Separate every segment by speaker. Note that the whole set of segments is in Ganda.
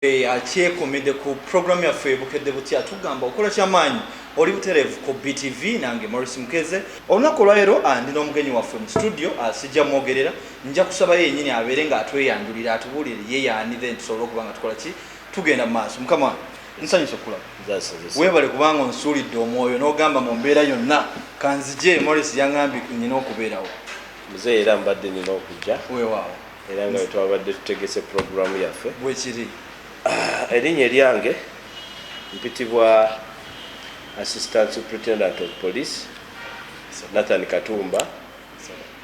Speaker 1: eh, akyekomede ku program yaffe bukedde butya tugamba okola kyamaanyi oli butereevu ku btv nange morris mukeze olunaku olwaleero ah, ndi n'omugenyi waffe mu studio ah, sijja mwogerera nja kusabayo yenyini abeere nga atweyanjulira atubuulire ye yaani then tusobole okuba nga tukola ki tugenda mu maaso mukama nsanyusa okulaba webale kubanga onsuulidde omwoyo n'ogamba mu mbeera yonna kanzije morris yangambye nyina okubeerawo muzeeyi era
Speaker 2: mbadde nina okujja weewaawo Era
Speaker 1: nga wetwabadde
Speaker 2: tutegese program yaffe bwekiri.
Speaker 1: Erinnya
Speaker 2: eryange mpitibwa Assistant Superintendent of Police Nathan Katumba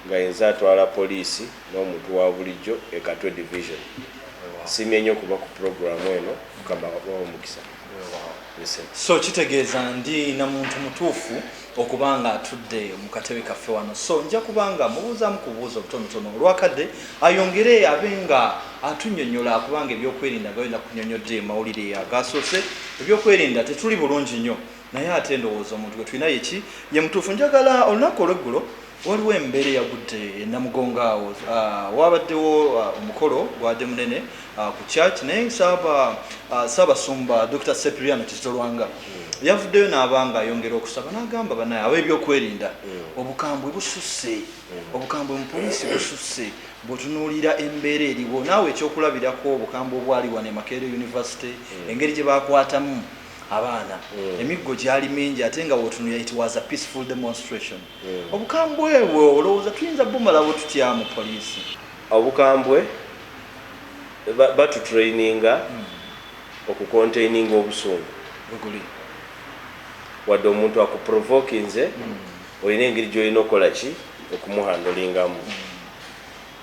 Speaker 2: nga yenze atwala poliisi n'omuntu wa bulijjo e Katwe Division. Nsiimye nnyo okuba ku program eno, Mukama abawe omukisa.
Speaker 1: so kitegeeza ndi na muntu mutuufu okuba nga atudde mu katebe kaffe wano so nja kuba nga mubuuzaamu ku bubuuzi obutonotono olwakadde ayongere abe nga atunyonyola kubanga ebyokwerinda nga yona kunyonyodde mawulire agasoose ebyokwerinda tetuli bulungi nnyo naye ate ndowooza omuntu gwe tulina yeki ye mutuufu njagala olunaku olweggulo Waliwo embeera eyagudde e Namugongo awo waabaddewo omukolo gwade munene ku church naye Ssaabasumba Dokita Sepiriano Kizito Lwanga yavuddeyo naaba nga ayongera okusaba nagamba banaye ab'ebyokwerinda obukambwe bususse obukambwe mu poliisi bususse bwotunuulira embeera eriwo naawe ekyokulabirako obukambwe obwali wano e Makerere University engeri gyebakwatamu abaana emiggo gyali mingi ate nga wotunulira it was a peaceful demonstration. Obukambwe bwo olowooza tuyinza bumalawo tutya mu poliisi? Obukambwe
Speaker 2: batutraininga oku containinga obusungu. Weguli. Wadde omuntu aku provokinze olina engeri gyolina okukola ki okumuhandlingamu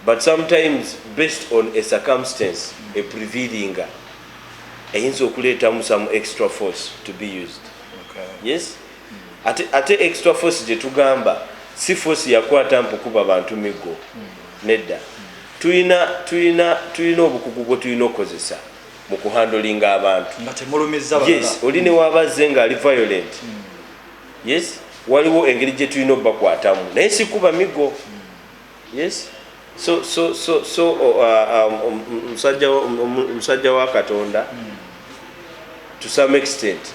Speaker 2: but sometimes based on a circumstance eprivilinga eyinza okuleetamu some extra force to be used. Yes. ate ate extra force gye tugamba si force yakwata mpukuba bantu miggo nedda tulina tulina tulina obukugu bwe tulina okukozesa mu kuhandolinga abantu yes oli ne wabazze nga ali violent yes waliwo engeri gye tulina obakwatamu naye sikuba miggo Yes so so so so oh, uh, um, um, um, musajja musajja wa katonda hmm. to some extent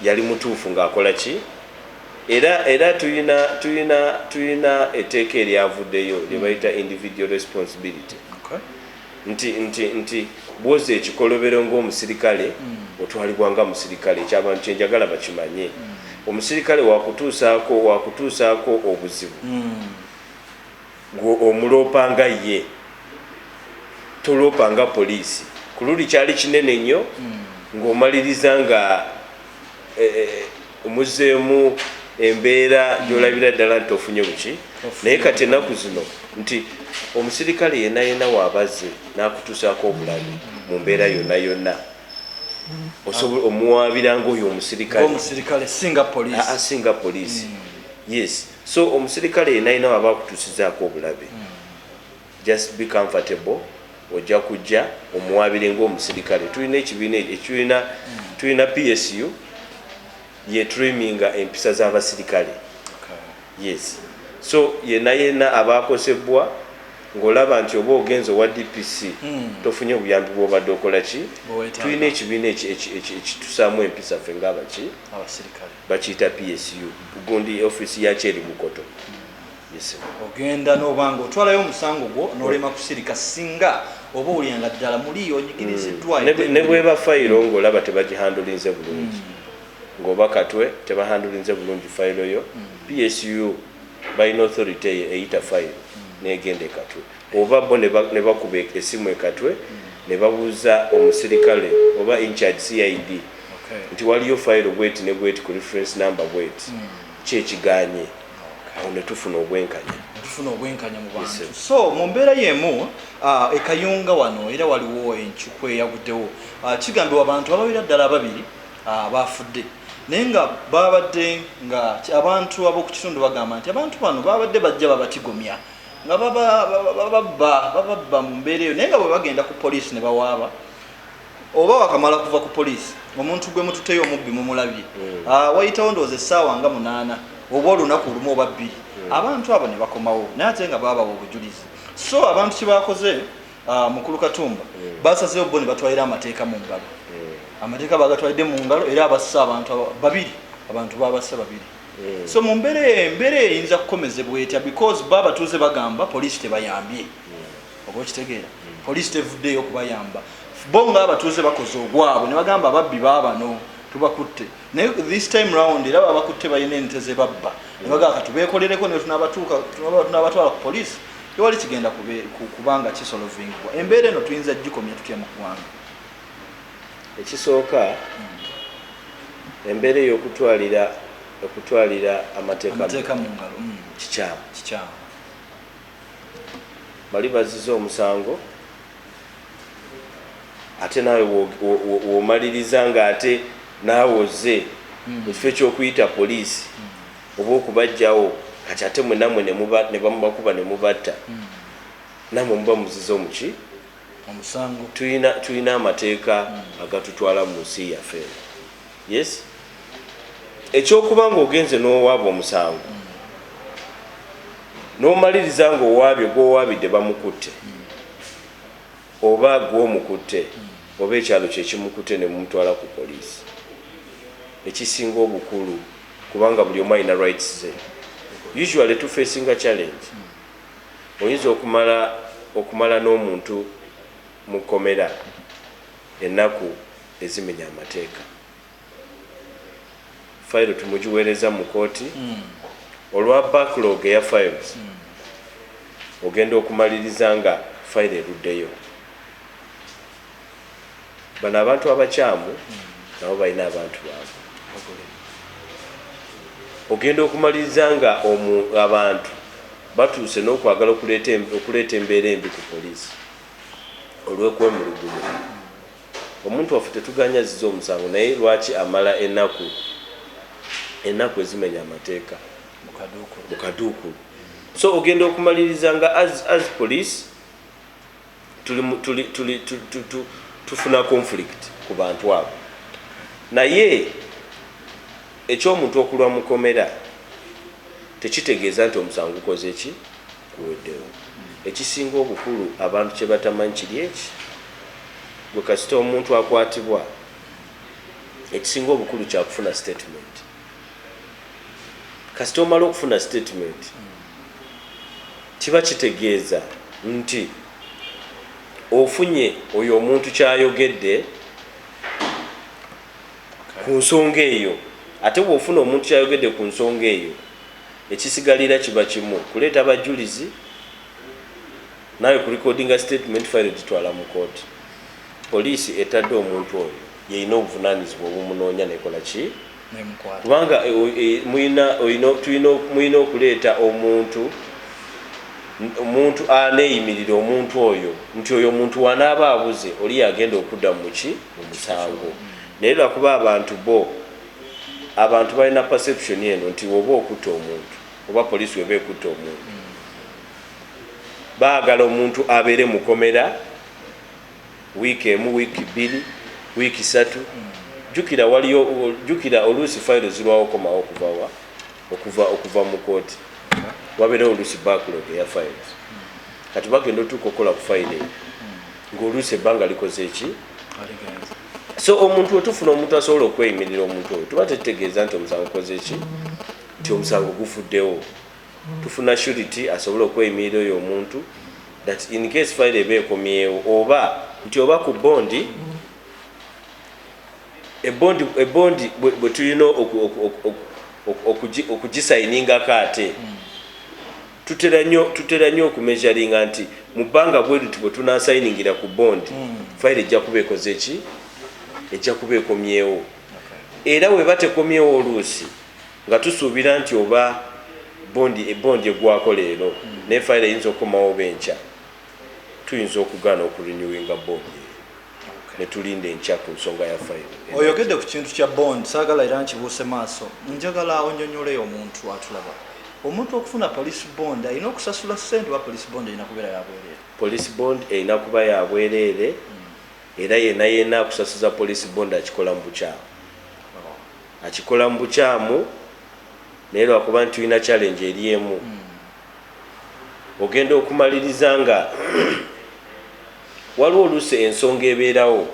Speaker 2: yali mutuufu ng'akola ki era era tulina tulina tulina etteeka eryavuddeyo lye hmm. bayita individual responsibility nti, nti, nti bwoza ekikolobero ng'omusirikale otwalibwa nga musirikale, ekyo abantu kye njagala bakimanye. Omusirikale wakutuusaako, wakutuusaako obuzibu, ggwe omuloopa nga ye, toloopa nga poliisi. Ku luli kyali kinene nnyo, ng'omaliriza nga, eh, eh, eh. Omuzzeemu embeera gyolabira ddala nti ofunye buki, naye kati ennaku zino nti omusirikale yena yena wabaze n'akutuusaako obulabi mu mbeera yonna yonna osobola omuwaabira ngaoyo omusirikale singa poliisi ah, ah, yes so omusirikale yena yena waba akutuusizaako obulabi mm. Just be comfortable ojja kujja omuwaabire nga omusirikale tulina ekibiina ekitulina tulina PSU ye traiminga empisa z'abasirikale yes so yena yena abaakosebbwa ng'olaba nti oba ogenze owa DPC hmm. tofunye buyambi bw'obadde okola ki tulina ekibiina ekitusaamu empisa ffe ng'abaki bakiyita PSU gundi ofiisi yakyo eri Bukoto. ogenda noba
Speaker 1: nga otwalayo omusango gwo nolema kusirika singa oba owulira nga ddala muli onyigiriziddwanebweba hmm.
Speaker 2: fayiro ngaolaba tebagihandulinze bulungi hmm. ngaoba katwe tebahandulinze bulungi fayiro yo hmm. psu balina authority eyo eyita fayiro negenda ekatwe oba bo nebakuba e-, esimu ekatwe nebabuuza omusirikale oba incharge cid nti waliyo fayiro bweti nebweti ku reference number bweti kyekiganye awo ne tufuna obwenkanya tufuna obwenkanya mu bantu so mu mbeera y'emu uh, ekayunga
Speaker 1: wano era waliwo encuku eyaguddewo uh, kigambibwa abantu ababira ddala ababiri uh, baafudde naye nga babadde nga abantu ab'okukitundu bagamba nti abantu bano babadde bajja babatigomya nga bababba bababba mu mbeera eyo naye nga bwe bagenda ku poliisi ne bawaaba oba wakamala kuva ku poliisi omuntu gwe mututeyo omubbi mumulabye mm. ah, wayitawo ndowooza essaawa nga munaana oba olunaku olumu oba bbiri mm. abantu abo ne bakomawo naye ate nga baabawa obujulizi so abantu kye baakoze ah, mukulu katumba mm. basazeewo bo ne batwalira amateeka mu ngalo amateeka bagatwalidde mu ngalo era abassa abantu babiri abantu babassa babiri so mu mbeera embeera eyinza kukomezebwa etya because bo abatuuze bagamba poliisi tebayambye oba okitegeera poliisi tevuddeeyo okubayamba bo nga abatuuze bakoze ogwabwe ne bagamba ababbi baabano tubakutte naye this time round era babakutte balina ente ze babba ne bagaa katubeekolereko ne tunabatwala ku poliisi tewali kigenda kubanga kisolovingibwa embeera eno tuyinza gikomya tutya mu ggwanga ekisooka
Speaker 2: hmm. embeera ey'okutwalira okutwalira amateeka mu ngalo hmm.
Speaker 1: kikyamu
Speaker 2: Bali baziza omusango ate naawe womaliriza nga ate naawe ozze hmm. ekifo ekyokuyita poliisi hmm. oba okubajjawo kati ate mwe namwe nebamubakuba nemubatta hmm. namwe muba muziza omuki
Speaker 1: tulina
Speaker 2: amateeka agatutwala mu nsi yaffe yes ekyokuba nga ogenze nowaaba omusango nomaliriza nga owaabye gwowaabidde bamukutte oba gwomukutte oba ekyalo kyekimukutte nemumutwala ku poliisi ekisinga obukulu kubanga buli omu alina rights ze usually tufesinga challenge oyinza okumala okumala n'omuntu mu kkomera ennaku ezimenya amateeka file tumugiwereza mu kooti mm. olwa backlog eya files mm. ogenda okumaliriza nga file eruddeyo bano abantu abakyamu mm. nabo balina abantu baabwe ogenda okumaliriza nga abantu batuuse n'okwagala okuleeta embeera embi ku poliisi olw'okwemulugumu Omuntu waffe tetuganye azize omusango naye lwaki amala enaku enaku ezimenya amateka mukaduukulu so ogenda okumaliriza nga as, as police tufuna conflict ku bantu abo naye ekyomuntu okulwa mukomera tekitegeeza nti omusango gukoze ki kuweddewo. Ekisinga obukulu abantu kye batamanyi kiri eki, Gwe kasita omuntu akwatibwa, ekisinga obukulu kya kufuna sitetimenti. Kasita omala okufuna sitetimenti, kiba kitegeeza nti ofunye oyo omuntu ky'ayogedde ku nsonga eyo. Ate bw'ofuna omuntu ky'ayogedde ku nsonga eyo, Ekisigalira kiba kimu kuleeta bajulizi naawe ku recordinga statement file gitwala mu kooti. Poliisi etadde omuntu oyo yeyina obuvunanyizibwa obumunoonya nekola ki kubanga muyina okuleeta omuntu omuntu aneyimirira omuntu oyo nti oyo omuntu wanaaba abuze oli yagenda okudda muki mu musango naye lwakuba abantu bo abantu balina perception eno nti woba okutta omuntu oba police weba ekutta omuntu baagala omuntu abeere mukomera wiiki emu wiiki bbiri wiiki satu jukira waliyo jukira oluusi fayiro zirwawo okomawo okuvawa okuva okuva mu kooti wabeerewo oluusi backlog eya fayiro kati bagenda otuuka okukola ku fayiro eyo ngaoluusi ebbanga likoze eki so omuntu wetufuna omuntu asobola okweyimirira omuntu oyo tuba tetutegeeza nti omusango kozeki nti omusango gufuddewo tufuna surity asobole okweyimirira oyo omuntu that in case file eba ekomyewo oba nti oba ku bondi ebondi ebondi bwe tulina okugisayiningako ate mm. Tutera nnyo tutera nnyo okumeasuringa nti mu bbanga bwe liti bwe tunaasayiningira ku bond hmm. fayiro ejja kuba ekoze ki ejja kuba ekomyewo era weba tekomyewo oluusi nga tusuubira nti oba bondi ebondi egwako leero hmm. naye fayiro eyinza okukomawo benkya tuyinza okugaana okurinewinga bondi netulinda enkya ku nsonga ya fayiro. Oyogedde ku kintu
Speaker 1: kya bond saagala era nkibuuse maaso. Njagala onyonyole omuntu atulaba. Omuntu okufuna police bond alina okusasula ssente oba police bond erina kubeera ya bwereere? Police bond erina
Speaker 2: kuba ya bwereere era yena yena akusasuza police bond akikola mu bukyamu. Akikola mu bukyamu naye lwakuba nti tulina challenge eri emu. ogenda okumaliriza nga waliwo oluusi ensonga ebeerawo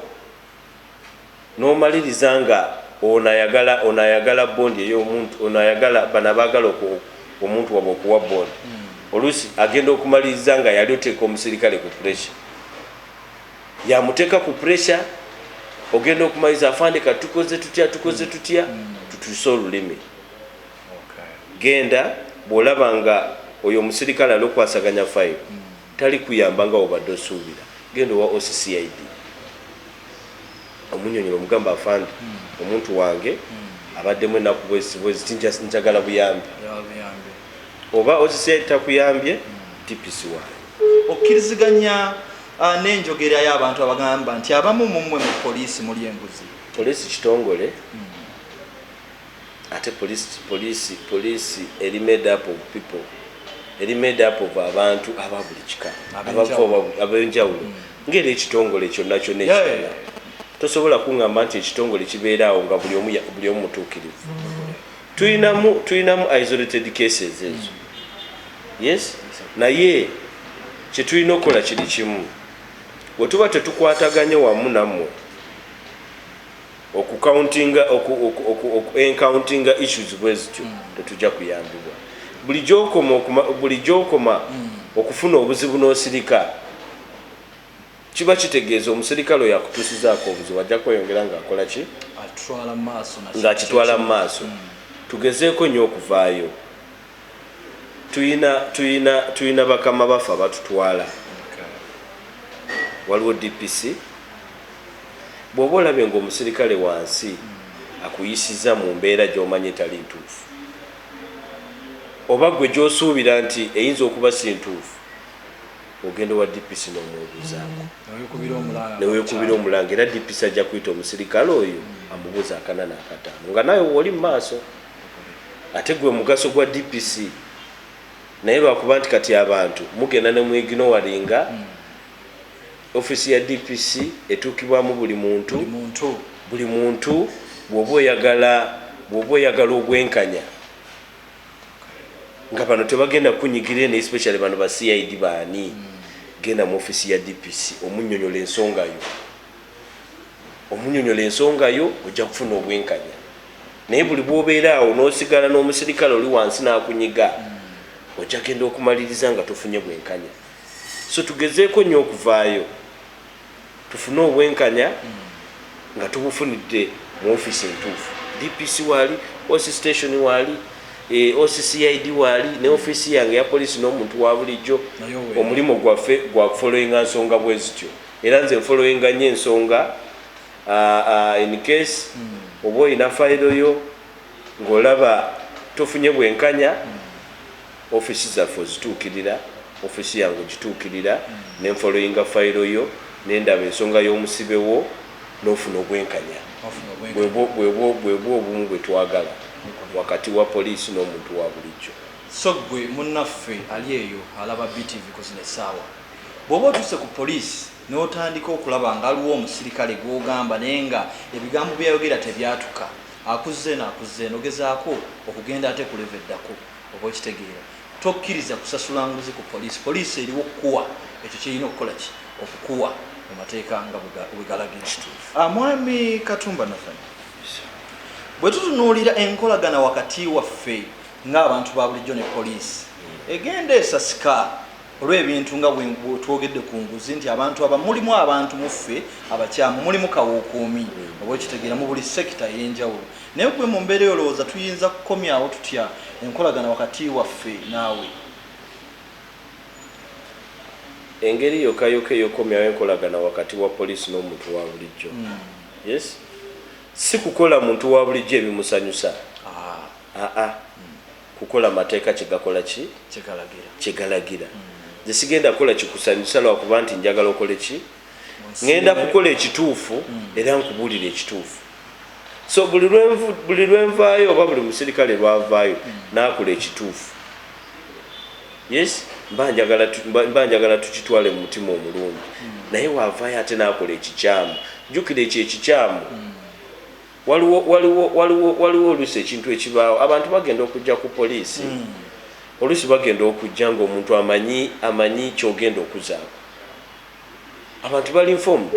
Speaker 2: n'omaliriza nga ono ayagala ono ayagala bondi eyomuntu ono ayagala bano abaagala omuntu wabwe okuwa bondi hmm. oluusi agenda okumaliriza nga yali oteeka omusirikale ku puresure yamuteeka ku puresure ogenda okumaliriza afande kati tukoze tutya tukoze tutya hmm. tutuuse olulimi Genda bwolaba nga oyo omusirikale alokwasaganya file talikuyamba nga wobadde osuubira genda owa oc CID omunyonyole omugambe afande omuntu wange abaddemu ennaku bweziti bweziti njagala buyambi oba oc CID takuyambye DPC waayo. Okkiriziganya
Speaker 1: uh, n'enjogera y'abantu abagamba nti abamu mu mmwe mu poliisi muli enguzi? Poliisi kitongole
Speaker 2: hmm. Ate police police police eri made up of people eri made up of abantu aba buli kika abava wa abenjawulo nga era ekitongole kyonna kyonna ekirala tosobola kungamba nti ekitongole kibeera awo nga buli omu buli omu mutuukirivu tulinamu tulinamu isolated cases ezo yes naye kyetulina okukola kiri kimu wetuba tetukwataganye wamu nammwe Oku countinga oku oku oku oku encountinga issues bwezityo mm. tetuja kuyambibwa buli gyokoma okuma buli gyokoma mm. okufuna obuzibu nosirika kiba kitegeeza omusirikale oyo akutusizaako obuzibu ajja kweyongera nga akola ki nga akitwala mu maaso mm. tugezeeko nnyo okuvaayo tuyina tuyina tuyina bakama baffe abatutwala waliwo dpc bwoba olabye nga omusirikale wansi akuyisiza mu mbeera gyomanyi etali ntuufu oba gwe gyosuubira nti eyinza okuba si ntuufu ogenda owa dpc nomwebuzaako newekubira omulanga era dpc ajja kuyita omusirikale oyo amubuuza akanana akataano nga nawe woli mu maaso ate gwe mugaso gwa DPC naye lwakuba nti kati abantu mugenda ne muignowalinga mm. office ya DPC etuukibwamu buli muntu buli muntu bwoba oyagala bwoba oyagala obwenkanya nga bano tebagenda kunyigira eno especially bano ba CID baani mm. genda mu office ya DPC omunyonyola ensonga yo omunyonyola ensonga yo ojja kufuna obwenkanya naye buli bwobeera awo nosigala n'omusirikale oli wansi n'akunyiga ojja genda okumaliriza nga tofunye bwenkanya so tugezeeko nnyo okuvaayo tufune obwenkanya nga tubufunidde mu ofiisi entuufu dpc waali oc station waali eh, occid waali ne ofiisi yange ya poliisi n'omuntu wa bulijjo omulimu gwaffe gwa kufolowinga nsonga bwe zityo era nze nfolowinga nnyo ensonga Uh, uh, in case mm. oba olina fayiro yo ng'olaba tofunye bwenkanya mm. ofisi zaffe ozituukirira ofisi yange ogituukirira mm. ne nfoloyinga fayiro yo nendaba ensonga y'omusibe wo n'ofuna obwenkanya bwebwo obumu bwe twagala wakati wa poliisi n'omuntu wa bulijjo so gwe
Speaker 1: munnaffe ali eyo alaba btv kuzina essaawa bw'oba otuuse ku poliisi N'otandika okulaba nga aliwo omusirikale gw'ogamba naye nga ebigambo bye yayogera tebyatuka. Akuzza eno akuzza eno ogezaako okugenda ate ku level eddako. Oba okitegeera. Tokkiriza kusasula nguzi ku poliisi. Poliisi eriwo okukuwa ekyo ky'erina okukola ki? Okukuwa mu mateeka nga bwe galagira. Mwami Katumba Nathan, bwe tutunuulira enkolagana wakati waffe ng'abantu ba bulijjo ne poliisi, egenda esasika olw'ebintu nga bwe twogedde ku nguzi nti abantu aba mulimu abantu muffe abakyamu mulimu kawuukuumi oba okitegeera mu buli sekita ey'enjawulo naye gwe mu mbeera eyolowooza tuyinza kukomyawo tutya enkolagana wakati waffe naawe
Speaker 2: engeri yokayoka eyokomyawo enkolagana wakati wa poliisi n'omuntu wa bulijjo hmm. yes si kukola muntu wa bulijjo ebimusanyusa aa ah. ah, ah. kukola mateeka kye gakola ki? Kye galagira. Kye galagira. Nze sigenda kukola kikusanyusa lwa kuba nti njagala okole ki? Ngenda kukola ekituufu era nkubuulire ekituufu. So buli lwenvu buli lwenvaayo oba buli musirikale lwavaayo n'akola ekituufu. Yes, mba njagala mba njagala tukitwale mu mutima omulungi. Naye wavaayo ate n'akola ekikyamu. Jjukira ekyo ekikyamu Waliwo, waliwo, waliwo, waliwo oluusi ekintu ekibaawo, abantu bagenda okujja ku poliisi, mm. oluusi bagenda okujja ng'omuntu amanyi, amanyi ky'ogenda okuzaako. Abantu bali informed.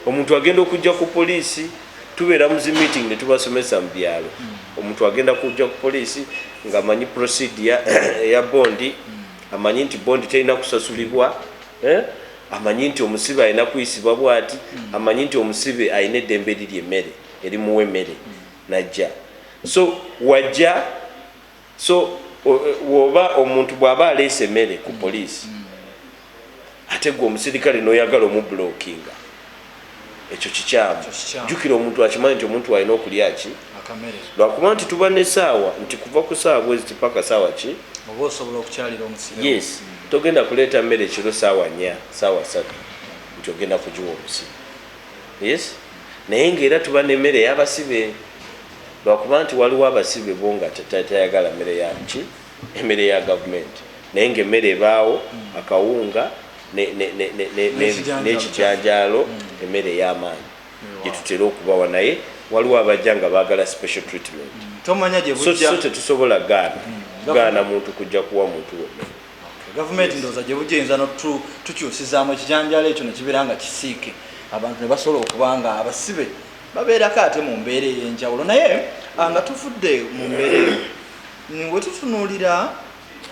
Speaker 2: Omuntu agenda okujja ku poliisi, tubeera mu zi meeting ne tubasomesa mu byalo. Mm. Omuntu agenda kujja ku poliisi ng'amanyi procedure eya bondi, mm. amanyi nti bondi terina kusasulibwa. Eh? Amanyi nti omusibe alina kuyisibwa bwati, amanyi nti omusibe alina eddembe lirya emmere, erimuwa emmere najja. So wajja, so woba omuntu bwaba aleese emmere ku poliisi, ate gwe omusirikale noyagala omublockinga. ekyo kikyamu jukira omuntu akimanyi nti omuntu alina okulya ki lwakuba nti tuba ne saawa nti kuva ku saawa bwezi tipaka saawa ki oba osobola okukyalira
Speaker 1: omusiro yes mm. togenda
Speaker 2: kuleeta mmere ekiro saawa nya saawa satu nti ogenda kugiwa omusiro yes naye ngaera tuba nemmere eyabasibe lwakuba nti waliwo abasibe bo nga tayagala mmere yaki Emmere ya Gavumenti naye ng'emmere ebaawo, akawunga n'ekijanjaalo, emmere ey'amaanyi gye tutera okubawa naye waliwo abajja nga baagala special treatment so
Speaker 1: tetusobola
Speaker 2: gaana muntu kujja kuwa muntu we mmere. Gavumenti ndowooza
Speaker 1: gye bujja eyinza n'otukyusizaamu ekijanjaalo ekyo ne kibeera nga kisiike abantu ne basobola okuba nga abasibe babeerako ate mu mbeera ey'enjawulo. Naye nga tuvudde mu mbeera eyo. Wetutunuulira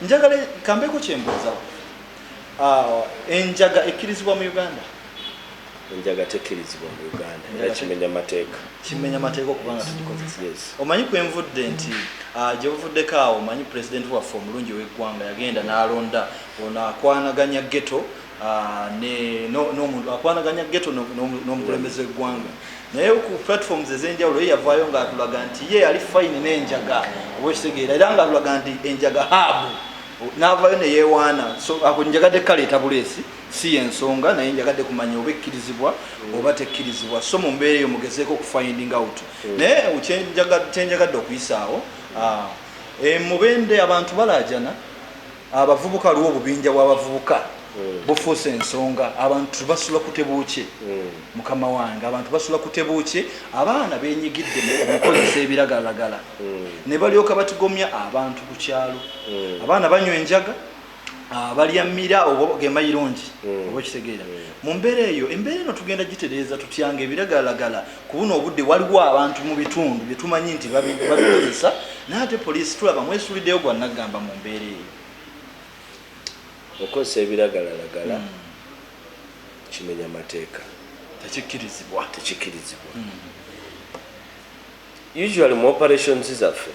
Speaker 1: njagala kambeeko kyembuuzawo ah, enjaga ekkirizibwa mu Uganda? Enjaga
Speaker 2: tekkirizibwa mu Uganda era kimenya mateeka. Kimenya mateeka okuba
Speaker 1: nga tugikozesa. Omanyi kwenvudde nti ah, gyebuvuddeko awo omanyi pulezidenti waffe omulungi ow'eggwanga yagenda n'alonda ono akwanaganya ghetto Ah, n'omuntu akwanaganya geto n'omukulembeze w'eggwanga naye ku platforms ez'enjawulo ye yavaayo ng'atulaga nti ye yali fayini n'enjaga oba ekitegeera era ng'atulaga nti enjaga haabu n'avaayo ne yeewaana so ako njagadde kaleeta buleesi si y'ensonga naye njagadde kumanya oba ekkirizibwa oba tekkirizibwa so mu mbeera eyo mugezeeko okufinding out hmm. naye kyenjagadde okuyisaawo ah, eh, mubende abantu balaajana Abavubuka waliwo obubinja bwabavubuka hmm. bufuuse ensonga abantu tebasula kutebuukye hmm. mukama wange abantu basula kutebuukye abaana benyigidde mukukozesa ebiragalagala hmm. ne balyoka batigomya abantu ku kyalo abaana banywa enjaga ah, balya mira oba gemayirungi oba okitegeera mu mbeera eyo embeera eno tugenda gitereeza tutyanga ebiragalagala Ku buno obudde waliwo abantu mu bitundu bye tumanyi nti babikozesa naye ate poliisi tulaba mwesuuliddeyo gwa naggamba mu mbeera eyo.
Speaker 2: Okukozesa ebiragalalagala hmm. kimenya mateeka. Tekikkirizibwa.
Speaker 1: Tekikkirizibwa.
Speaker 2: Hmm. Usually mu operations zaffe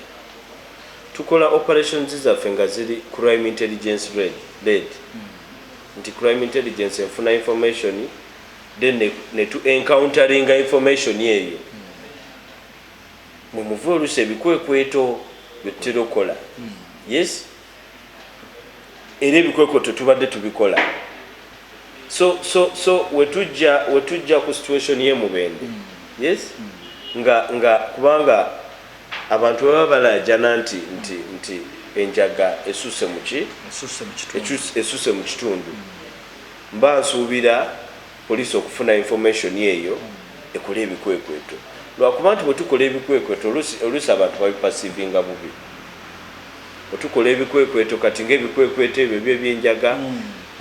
Speaker 2: tukola operations zaffe nga ziri crime intelligence led hmm. nti crime intelligence enfuna information then ne, ne tu encounteringa information eyo mwe muva oluusi ebikwekweto byetutera okukola yes era ebikwekweto tubadde tubikola so so so wetujja wetujja ku situation ye mubende yes nga nga kubanga abantu baba balajana nti nti nti enjaga esuse muki esuse mu kitundu Mba nsuubira poliisi okufuna information eyo ekole ebikwekweto lwakuba nti bwetukola ebikwekweto oluusi oluusi abantu babi perceivinga bubi bwetukola ebikwekweto kati nga ebikwekweto ebyo ebyo ebyenjaga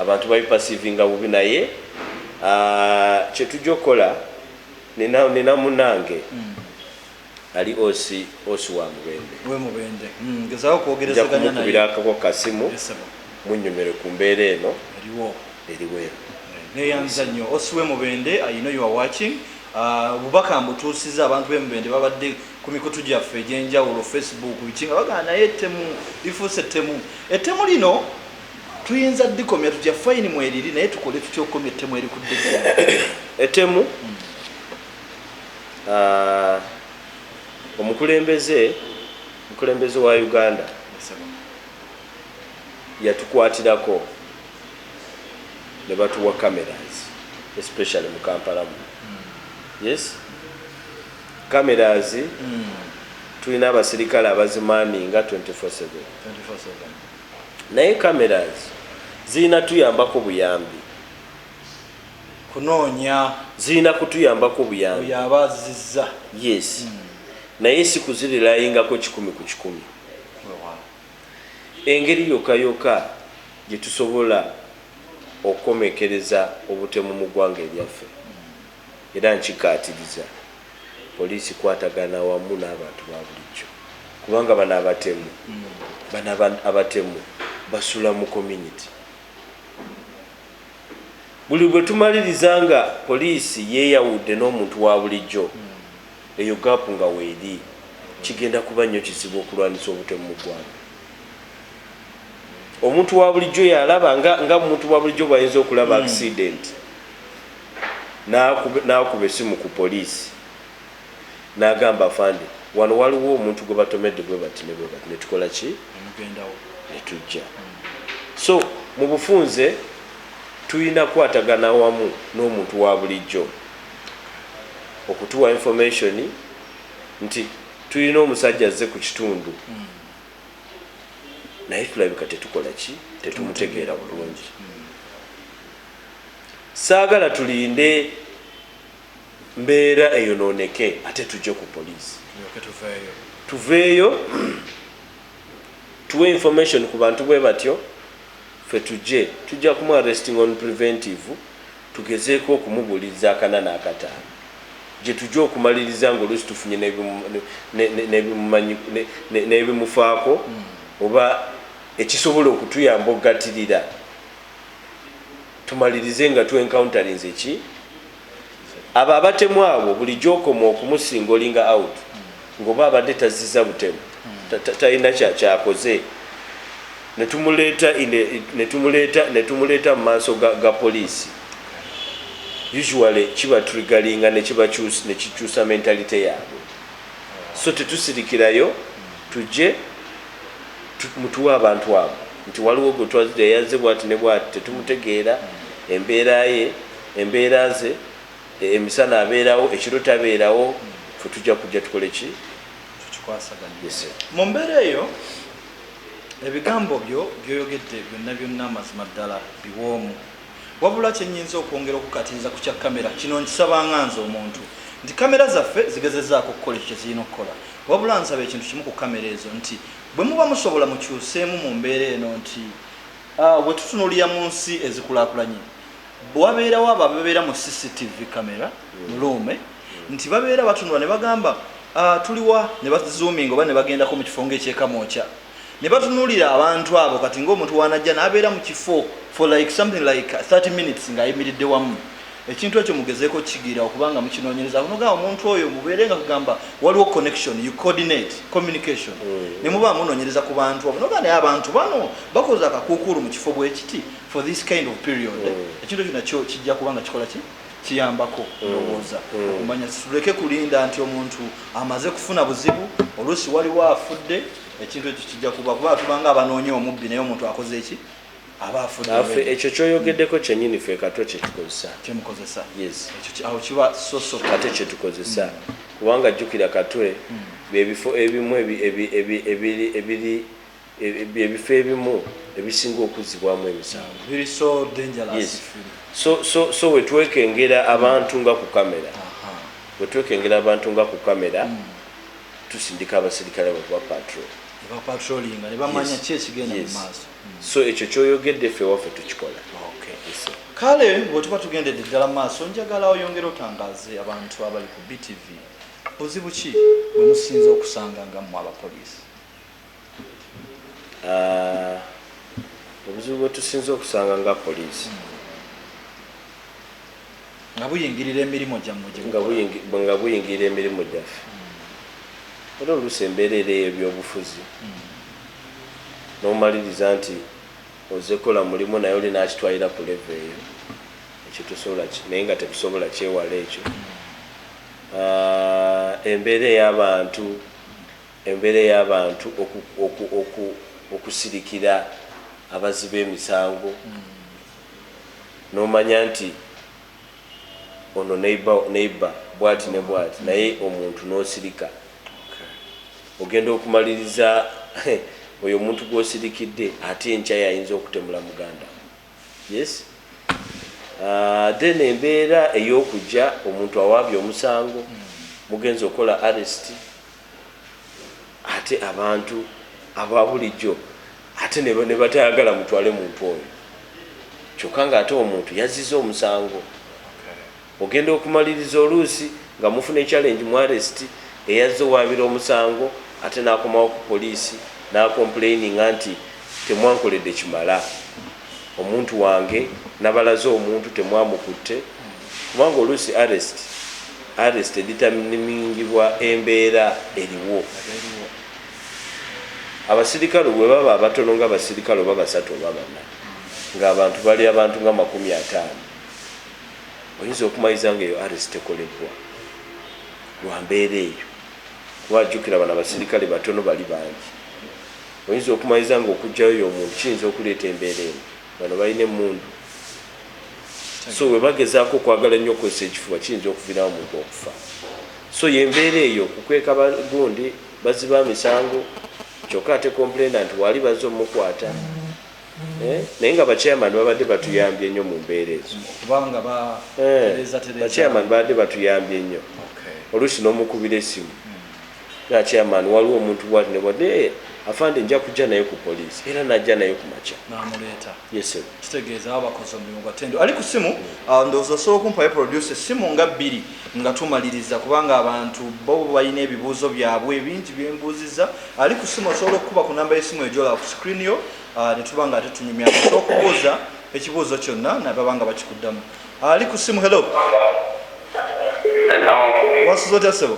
Speaker 2: abantu babi perceivinga bubi naye aah kyetuja okola nina nina munange Ali OC OC wa Mubende. We Mubende. Mm, ngezaako
Speaker 1: kwogerezeganya naye. Njakubira akako kasimu.
Speaker 2: Yes, munyumire ku mbeera eno. Eriwo. Eriwo eno. Eh, neyanza
Speaker 1: nnyo. OC we Mubende, I know you are watching. Ah, obubaka uh, mbutuusiza abantu be Mubende babadde ku mikutu gyaffe egy'enjawulo Facebook biki nga bagana naye ettemu lifuuse ettemu. Ettemu lino tuyinza dikomya tutya fayini mweriri naye tukole tutya okukomya ettemu erikudde ettemu
Speaker 2: hmm. uh, omukulembeze omukulembeze wa uganda yatukwatirako ne batuwa cameras especially mu kampala mu hmm. yes cameras mm. tulina abasirikale abazimaninga 24/7 naye cameras zirina tuyambako buyambi kunoonya
Speaker 1: zirina kutuyambako
Speaker 2: buyambi oyo aba azizza
Speaker 1: yes mm.
Speaker 2: naye si kuzirilayingako kikumi ku kikumi engeri yoka yoka gye tusobola okukomekereza obutemu mu ggwanga eryaffe era nkikaatiriza poliisi kwatagana wamu n'abantu ba bulijjo kubanga bano abatemu mm. bano abatemu basula mu community Buli bwe tumaliriza nga poliisi yeeyawudde n'omuntu wa bulijjo, eyo gaapu nga weeri, kigenda kuba nnyo kizibu okulwanyisa obutemu mu ggwanga. Omuntu wa bulijjo y'alaba nga, nga omuntu wa bulijjo bw'ayinza okulaba akisidenti n'akuba essimu ku poliisi. nagamba afande wano waliwo omuntu gwebatomedde bwebati ne bwebati netukola ki netujja so mubufunze tuyina kwatagana wamu n'omuntu wabulijjo okutuwa information nti tuyina omusajja azze ku kitundu mm. naye tulabika tetukola ki tetumutegeera bulungi mm. saagala tulinde mbeera eyonooneke ate tujje ku poliisi tuveeyo tuwe information ku bantu bwe batyo ffe tujje tujja kumu arresting on preventive tugezeeko okumubuuliriza akana n'akataano gye tujja okumaliriza ng'oluusi tufunye n'ebimufaako hmm. oba ekisobola okutuyamba okugatirira tumalirize nga tu encounterings eki Abo abatemu abo bulijjo okoma okumusingolinga out nga oba abadde tazziza butemu talina kyakoze netumuleeta mu maaso ga poliisi usually kiba trigalinga nekikyusa mentalite yaabwe so tetusirikirayo tujje mutuwe abantu abo nti waliwo gwetwazze yazze bwati ne bwati tetumutegeera embeera ye Embeera ze, e, emisana abeerawo, ekiro tabeerawo, ffe tujja kujja tukole ki? Tukikwasaganye.
Speaker 1: Yes, sir. Mu mbeera eyo, ebigambo byo by'oyogedde byonna byonna mazima ddala biwoomu. Wabula kye nnyinza okwongera okukukatiriza ku kya kkamera, kino nkisabanga nze omuntu, nti kkamera zaffe zigezezzaako okukola ekyo kye zirina okukola. Wabula nsaba ekintu kimu ku kkamera ezo, nti bwe muba musobola mukyuseemu mu mbeera eno nti, ah, bwe tutunuulira mu nsi ezikulaakulanye, Wabeerawo abo ababeera mu CCTV camera mu luume nti babeera batunula ne bagamba ah, tuliwa ne bazoominga oba ne bagendako mu kifo ng'eky'e Kamwokya ne batunuulira abantu abo kati ng'omuntu w'anajja n'abeera mu kifo for like something like 30 minutes ng'ayimiridde wamu ekintu ekyo mugezeeko kigira okuba nga mukinoonyereza kunogamba omuntu oyo mubeere nga kugamba waliwo connection you coordinate communication mm. ne muba munoonyereza ku bantu abo noga naye abantu bano bakoze akakuukuulu mu kifo bwekiti for this kind of period mm. ekintu kyona kyo kijja kubanga kikola ki kiyambako mm. ndowooza mm. okumanya tuleke kulinda nti omuntu amaze kufuna buzibu oluusi waliwo afudde ekintu ekyo kijja kuba kuba tubanga abanoonya omubbi naye omuntu akoze eki ekyo kyoyogeddeko
Speaker 2: kyenyini fe katwe
Speaker 1: kyetukozesaemukozesa
Speaker 2: kyetukozesa kubanga jjukira katwe bebifo ebimu ebiri ebifo ebimu ebisinga okuzzibwamu emisango so wetwekengera abantu nga ku kamera wetwekengera abantu nga ku kamera hmm. tusindika abaserikale bakuba patrol
Speaker 1: so ekyo
Speaker 2: kyoyogedde fe waffe tukikola
Speaker 1: kale bwetuba tugendedde ddala maaso njagala oyongere otangaze abantu abali ku btv buzibu ki bwemusinza okusanga nga mwe abapoliisi Ah,
Speaker 2: obuzibu bwetusinze okusanga nga poliisi
Speaker 1: nga buyingirira emirimu gyammwe gye nga mukola. buyingi- nga
Speaker 2: buyingirira emirimu gyaffe era oluusi embeera era ey'ebyobufuzi n'omaliriza nti oze kola mulimu naye oli n'akitwalira ku levo eyo ekyo tosobola ki- naye nga tetusobola kyewala ekyo Ah, embeera ey'abantu Embeera ey'abantu okusirikira abazzi b'emisango n'omanya nti ono neighbour bwati ne bwati naye omuntu n'osirika ogenda okumaliriza oyo omuntu gw'osirikidde ate enkya y'ayinza okutemula muganda wo yes ah, then embeera ey'okujja omuntu awaabye omusango mugenze okola arrest ate abantu ababulijjo ate nebatayagala mutwale muntu oyo kyokka nga ate omuntu yazziza omusango ogenda okumaliriza oluusi nga mufuna echallenge mu arest eyazza owaabira omusango ate n'akomawo ku poliisi n'akomplaininga nti temwankoledde kimala Omuntu wange nabalaze omuntu temwamukutte kubanga oluusi arrest arrest editamnimingibwa embeera eriwo abasirikale bwebaba abatono nga abasirikale oba basatu oba bana nga abantu bali abantu nga makumi ataano oyinza okumayiza nga eyo arrest tekolebbwa lwa mbeera eyo kuba ajjukira bano abasirikale batono bali bangi Oyinza okumaiza nga okujjayo yomuntu kiyinza okuleeta embeera eno. Bano balina emmundu so webagezaako okwagala ennyo okukozesa ekifuba kiyinza okuvirawo omuntu okufa. So yembeera eyo kukweka ba gundi, bazzi ba misango kyokka ate complainant waali bazze omukwata eh? Naye nga ba chairman babadde batuyambye nnyo mu mbeera ezo. Kubanga ba
Speaker 1: eh, tereza
Speaker 2: tereza. Ba chairman babadde batuyambye nnyo. Okay. Oluusi n'omukubira essimu. Naye chairman waliwo omuntu bwati ne bwati naye afande nja kujja naye ku police era najja naye ku makya. Namuleeta. Yes
Speaker 1: sebo. Kitegeeza
Speaker 2: baba bakoze omulimu
Speaker 1: gwa tendo. Ali ku simu uh, ndoza osobola okumpayo producer simu nga bbiri nga tumaliriza kubanga abantu bo balina ebibuuzo byabwe ebingi byembuuziza. Ali ku simu osobola okukuba ku namba y'essimu ejola ku screen yo uh, ne tuba nga ate tunyumya osobola okubuuza ekibuuzo kyonna nababa nga bakikuddamu. Ali ku simu hello. Hello. Wasuze otya sebo?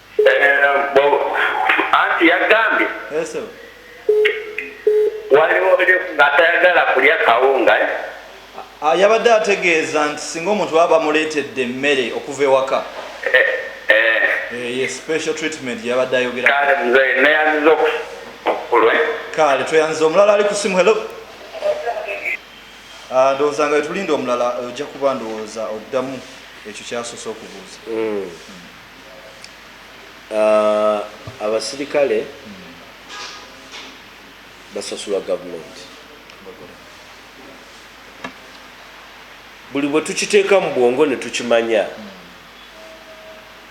Speaker 3: anti yagambye
Speaker 1: waliwo
Speaker 3: atayagala kulya kawunga eh? ah,
Speaker 1: yabadde ategeeza nti singa omuntu baba bamuleetedde emmere okuva ewaka eh, eh. ye special treatment yabadde
Speaker 3: ayogerakale
Speaker 1: tweyanziza omulala ali kusimu helo ah, ndowooza nga wetulinda omulala ojja kuba ndowooza oddamu ekyo kyasoose okubuuza mm. Mm. Ah
Speaker 2: abasirikale basasulwa government buli bwetukiteeka mu bwongo netukimanya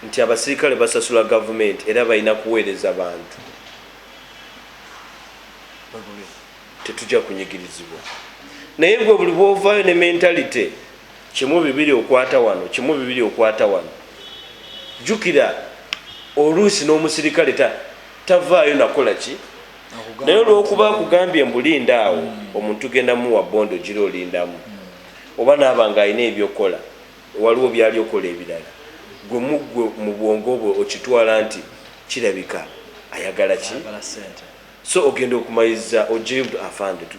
Speaker 2: nti abasirikale basasula government era balina kuweereza bantu tetujja kunyigirizibwa naye gwe buli bwovayo ne mentality Kimu bibiri okwata wano, kimu bibiri okwata wano. Jjukira oluusi n'omusirikale ta, tavaayo na kukola ki? Naye olw'okuba akugambye mbu linda awo, omuntu tugenda muwa bond ogira olindamu. Oba n'aba nga alina eby'okukola, waliwo by'ali okukola ebirala, ggwe mu ggwe, mu bwongo bwo okitwala nti, Kirabika ayagala ki? So ogenda okumaliriza oggyeyo, Afande, tu.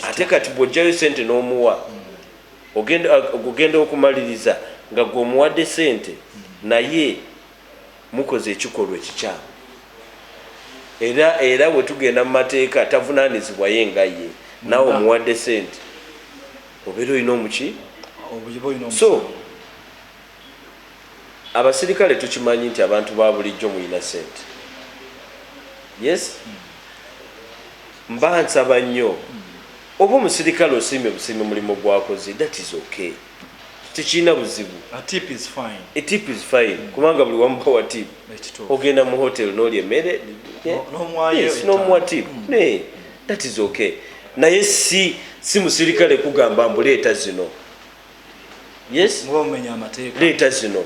Speaker 2: Ate kati bw'oggyayo ssente n'omuwa, ogenda okumaliriza nga gwe omuwadde sente naye mukoze ekikolwa ekikyamu era era wetugenda mu mateeka tavunanizibwa ye nga ye nawe omuwadde sente obeera olina omuki so Abasirikale tukimanyi nti abantu babulijjo muyina sente yes mba nsaba nnyo oba omusirikale osiimye busiimi mulimu gwakoze that is okay tekirina buzibu
Speaker 1: tip is fine eh,
Speaker 2: mm. kubanga buli wamu bawa tip ogenda mu hotel noli emere nomuwa tip mm. that is okay naye si si musirikale kugamba mbuleeta zino yes muba mumenya amateeka leeta zino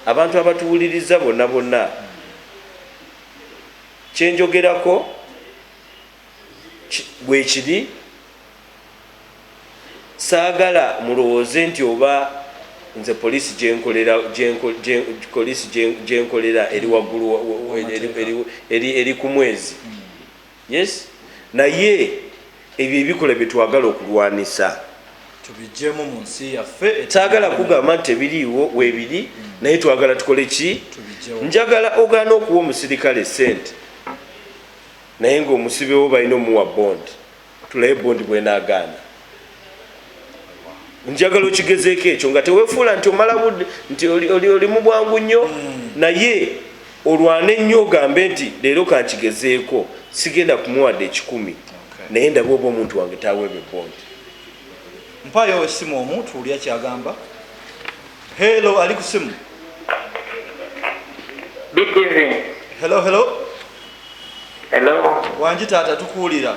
Speaker 2: abantu abatuwuliriza bonna bonna kyenjogerako bwekiri saagala mulowooze nti oba nze poliisi gyenkolera eri waggulu eri ku mwezi hmm. yes naye ebyo ebikola byetwagala okulwanisa tubijemu
Speaker 1: mu nsi yaffe saagala kugamba nti
Speaker 2: ebiriiwo webiri mm. naye twagala tukole ki njagala ogaana okuwa omusirikale sente naye ngaomusibewo balina omuwa bond tulabe bond bwenagaana njagala okigezeeko ekyo nga tewefuula nti omala budde nti oli mu bwangu nnyo hmm. naye olwane nnyo ogambe nti leero kankigezeeko sigenda kumuwadde ekikumi naye ndaba oba omuntu wange taweebwa ebondi
Speaker 1: mpayo esimu omu tuwulya kyagamba helo ali kusimu helo helo
Speaker 3: wangi taata tukuwulira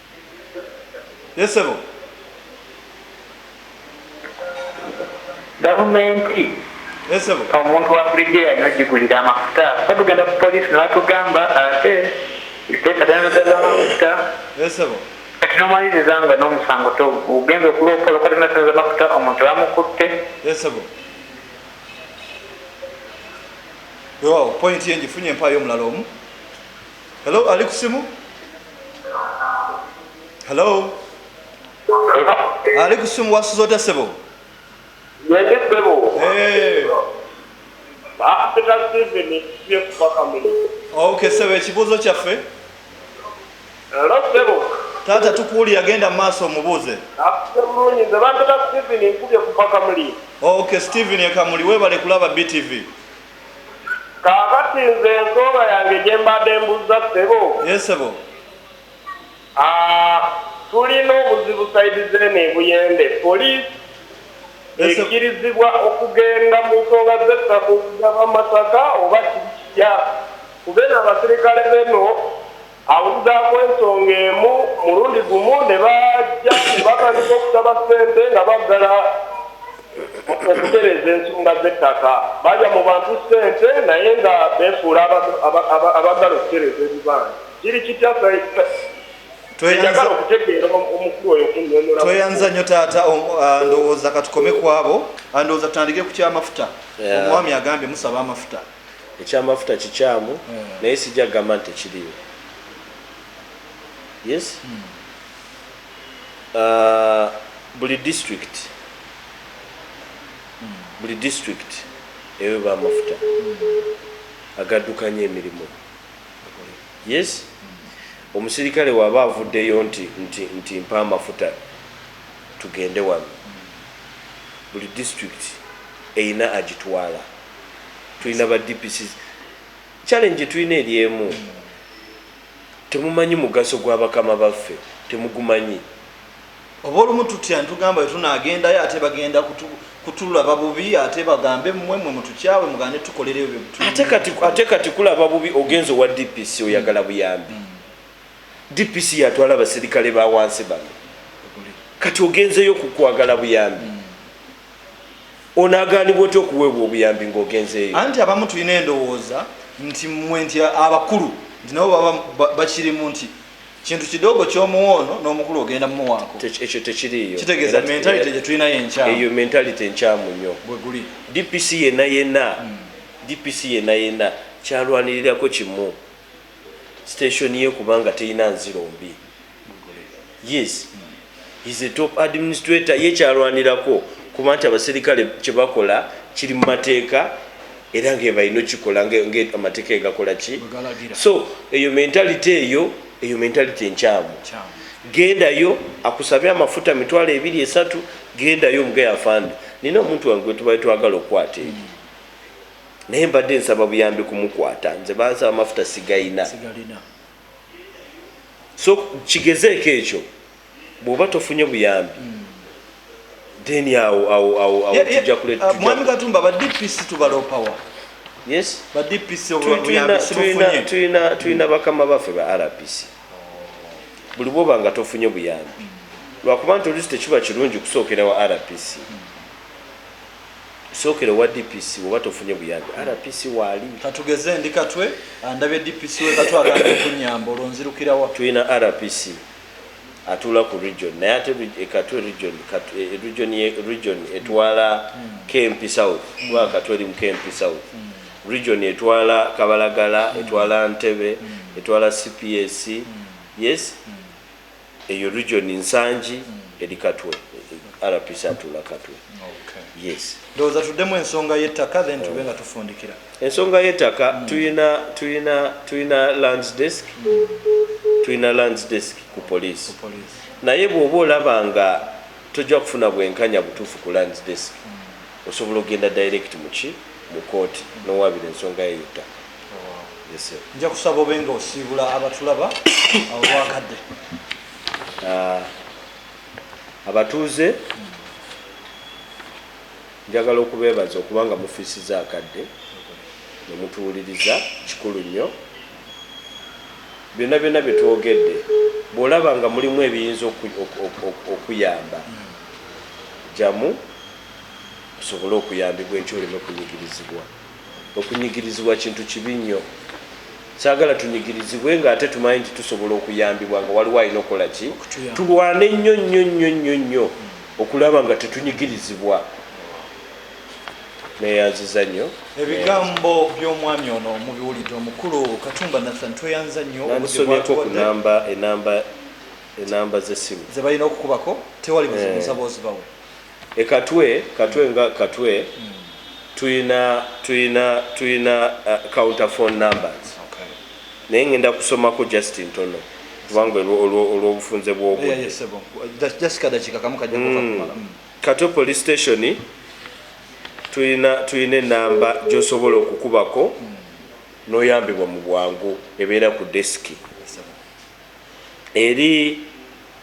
Speaker 1: Naye ssebo
Speaker 3: gavumenti omuntu wabulijjo yalina ogigulira amafuta fe tugenda ku poliisi nebatugamba ate tesatanazamafuta kati nomaliriza nga n'omusango ogenza okuloopola okatanatanaza mafuta omuntu bamukutte wewawo
Speaker 1: pointi ye njifunye empaayo omulala omu Hello, ali kusimu? Hello. Ali kusimu wasuza otya sebo? Nende sebo. Eh. Apeta sebe ne sebe kwa kamili. Okay, sebe ekibuzo kyaffe. Hello sebo. Tata tukuli agenda maso mubuze. Akumuni nze bantata Steven nkubye kupaka muli. Okay, Steven ekamuli webale kulaba BTV.
Speaker 4: Kakati nze ensonga yange gyembade mbuzza ssebo. Yes ssebo.
Speaker 1: Ah
Speaker 4: tulina obuzibu side zeno ebuyende police ekirizibwa okugenda mu nsonga zettaka okugaba amasaka oba kiri kitya kubeno abasirikale beno Abuzaako ensonga emu mulundi gumu ne bajja ne batandika okusaba ssente nga baggala okutereeza ensonga z'ettaka. Balya mu bantu ssente naye nga beefuula abaggala okutereeza ebibanja. Kiri kitya Said? Njagala okutegeera omukulu
Speaker 1: oyo kunnyonnyola. Tweyanziza nnyo taata, ah, ndowooza katukome kwabo. Ah, ndowooza tutandike ku ky'amafuta. Omwami agambye musaba amafuta. Ekyamafuta
Speaker 2: kikyamu naye sijja kugamba nti tekiriiwo. Yes? Buli district, buli district eweba amafuta agaddukanya emirimu. Yes? Omusirikale waba avuddeyo nti, nti, nti mpa amafuta tugende wano, buli district erina agitwala. tulina ba dpc challenge tulina eri emu temumanyi mugaso gwa bakama baffe temugumanyi
Speaker 1: oba olumu tutya ntugamba wetunagendayo ate bagenda kutulaba bubi ate bagambe mwe mwe mutukyawe mugande tukolereyo ate
Speaker 2: kati kulaba bubi ogenza owa dpc oyagala buyambi mm. dpc yatwala abaserikale bawansi bano kati ogenzeyo kukwagala buyambi mm. onaganibwa otya okuweebwa obuyambi ngaogenzeeyo anti abamu tulina
Speaker 1: endowooza nti mwe nti abakulu nti nabo baba bakirimu nti kintu kidogo kyomuwa ono n'omukulu ogenda mumuwaako ekyo tekiriyo
Speaker 2: kitegeeza mentality
Speaker 1: gyetulinayo enkyamu eyo mentality enkyamu
Speaker 2: nnyo bweguli dpc
Speaker 1: yena
Speaker 2: yena hmm. dpc yena yena kyalwanirirako kimu station ye kubanga teyina nziro mbi yes is a top administrator ye kyalwanirako kuba nti abaserikale kyebakola kiri mu mateeka era ngebalina okikola ngamateeka egakola ki so eyo mentality eyo eyo mentality enkyamu gendayo akusabe amafuta mitwalo ebiri esatu gendayo omugaye afande nina omuntu wange gwetubale twagala okukwata eyo naye mbadde nsaba buyambi kumukwata nze bansaba amafuta sigayina so kigezeeko ekyo bwoba tofunye buyambi hmm. then awo awo awo awo tujja kuleta uh, mwami katumba ba
Speaker 1: DPC tubalopawa yes
Speaker 2: ba DPC
Speaker 1: obuyambi sibufunye tuyina
Speaker 2: tuyina hmm. bakama bafe ba RPC buli bwoba nga tofunye buyambi hmm. lwakuba nti olusi tekiba kirungi kusookera wa RPC Sookera owa DPC woba tofunye buyambi RPC waali. Katugeze ndi Katwe
Speaker 1: andabye DPC we Katwe agambye okunyamba olwo nzirukirawa. Tulina RPC
Speaker 2: atuula ku region naye ate e Katwe region e, e region ye region etwala hmm. Kempi South hmm. kuba Katwe eri mu Kempi South hmm. region etwala Kabalagala etwala Ntebe etwala CPS yes Eyo region Nsangi eri Katwe. RPC atuula Katwe. Yes. Ndowooza tuddemu
Speaker 1: ensonga y'ettaka then tube nga tufundikira. Ensonga y'ettaka
Speaker 2: hmm. tuyina tuyina tuyina lands desk. Tuyina lands desk ku police. Naye bw'oba olaba nga tojja kufuna bwenkanya butuufu ku lands desk. Hmm. Osobola ogenda direct mu ki? Mu kooti nowabira ensonga yo yottaka. Yes sir.
Speaker 1: Nja kusaba obe nga osiibula abatulaba olwakadde. Ah,
Speaker 2: abatuuze njagala okubeebaza okuba nga mufiisiza akadde ne mutuwuliriza, kikulu nnyo. Byonna byonna bye twogedde bw'olaba nga mulimu ebiyinza okuyamba, jjamu. osobole okuyambibwa enkya oleme kunyigirizibwa. Okunyigirizibwa kintu kibi nnyo. Saagala tunyigirizibwe ng'ate tumanyi nti tusobola okuyambibwa nga waliwo alina okukola ki? Tulwane nnyo nnyo nnyo nnyo nnyo okulaba nga tetunyigirizibwa. Neeyanziza nnyo. Ebigambo
Speaker 1: by'omwami ono mubiwulidde. Omukulu Katumba Nathan tweyanziza nnyo obudde bw'atuwadde.
Speaker 2: Enamba z'essimu. Ze balina okukubako.
Speaker 1: Tewali buzibu, eh. nsaba ozibawe. E Katwe, Katwe nga Katwe tulina tulina tulina counter phone numbers naye ngenda kusomako just ntono kubanga olw'obufunze bw'obudde. Katwe police station tulina tulina enamba gy'osobola okukubako n'oyambibwa mu bwangu ebeera ku desiki eri.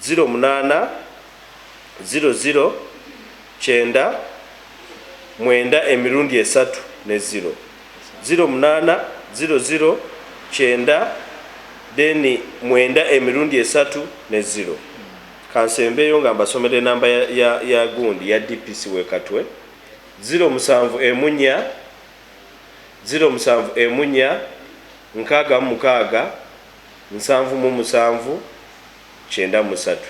Speaker 1: ziro munaana ziro ziro kyenda mwenda emirundi esatu ne ziro ziro munaana ziro ziro kyenda then mwenda emirundi esatu ne ziro kansembeeyo nga mbasomera enamba ya, ya, ya gundi ya dpc wekatwe ziro musanvu emunya ziro musanvu emunya nkaaga mu mukaaga nsanvu mu musanvu kyenda mu satu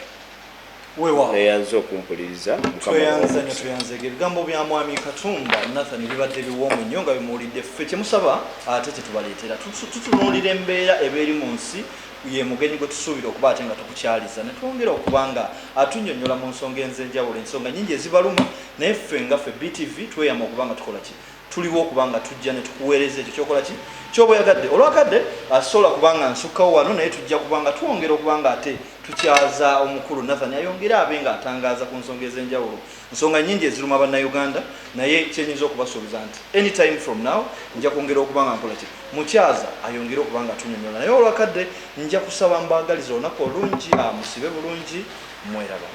Speaker 1: Weewaawo. neyanze
Speaker 2: okumpuliriza mukama muwe Tweyanze nnyo omukisa.
Speaker 1: tweyanze nnyo. Ebigambo bya Mwami Katumba Nathan bibadde biwoomu nnyo nga bwe muwulidde ffe kye musaba ate kye tubaleetera. Tutu- Tutunuulira embeera eba eri mu nsi ye mugenyi gwe tusuubira okuba ate nga tukukyaliza ne twongera okuba nga atunnyonnyola mu nsonga enzenjawulo ensonga nnyingi ezibaluma naye ffe nga ffe BTV tweyama okuba nga tukola ki? Tuliwo okuba nga tujja ne tukuweereza ekyo ky'okola ki? Ky'oba oyagadde. Olwakadde, a, sisobola kuba nga nsukkawo wano, naye tujja kuba nga twongera okuba nga ate tukyaza Omukulu Nathan ayongere abe nga atangaaza ku nsonga ez'enjawulo. Nsonga nnyingi eziruma Bannayuganda, naye kye nnyinza okubasuubiza nti, any time from now, nja kwongera okuba nga nkola ki? Mukyaza ayongere okuba nga atunyonyola. Naye olwakadde, nja kusaba mbaagalize olunaku olungi, a, musibe bulungi. Mweraba.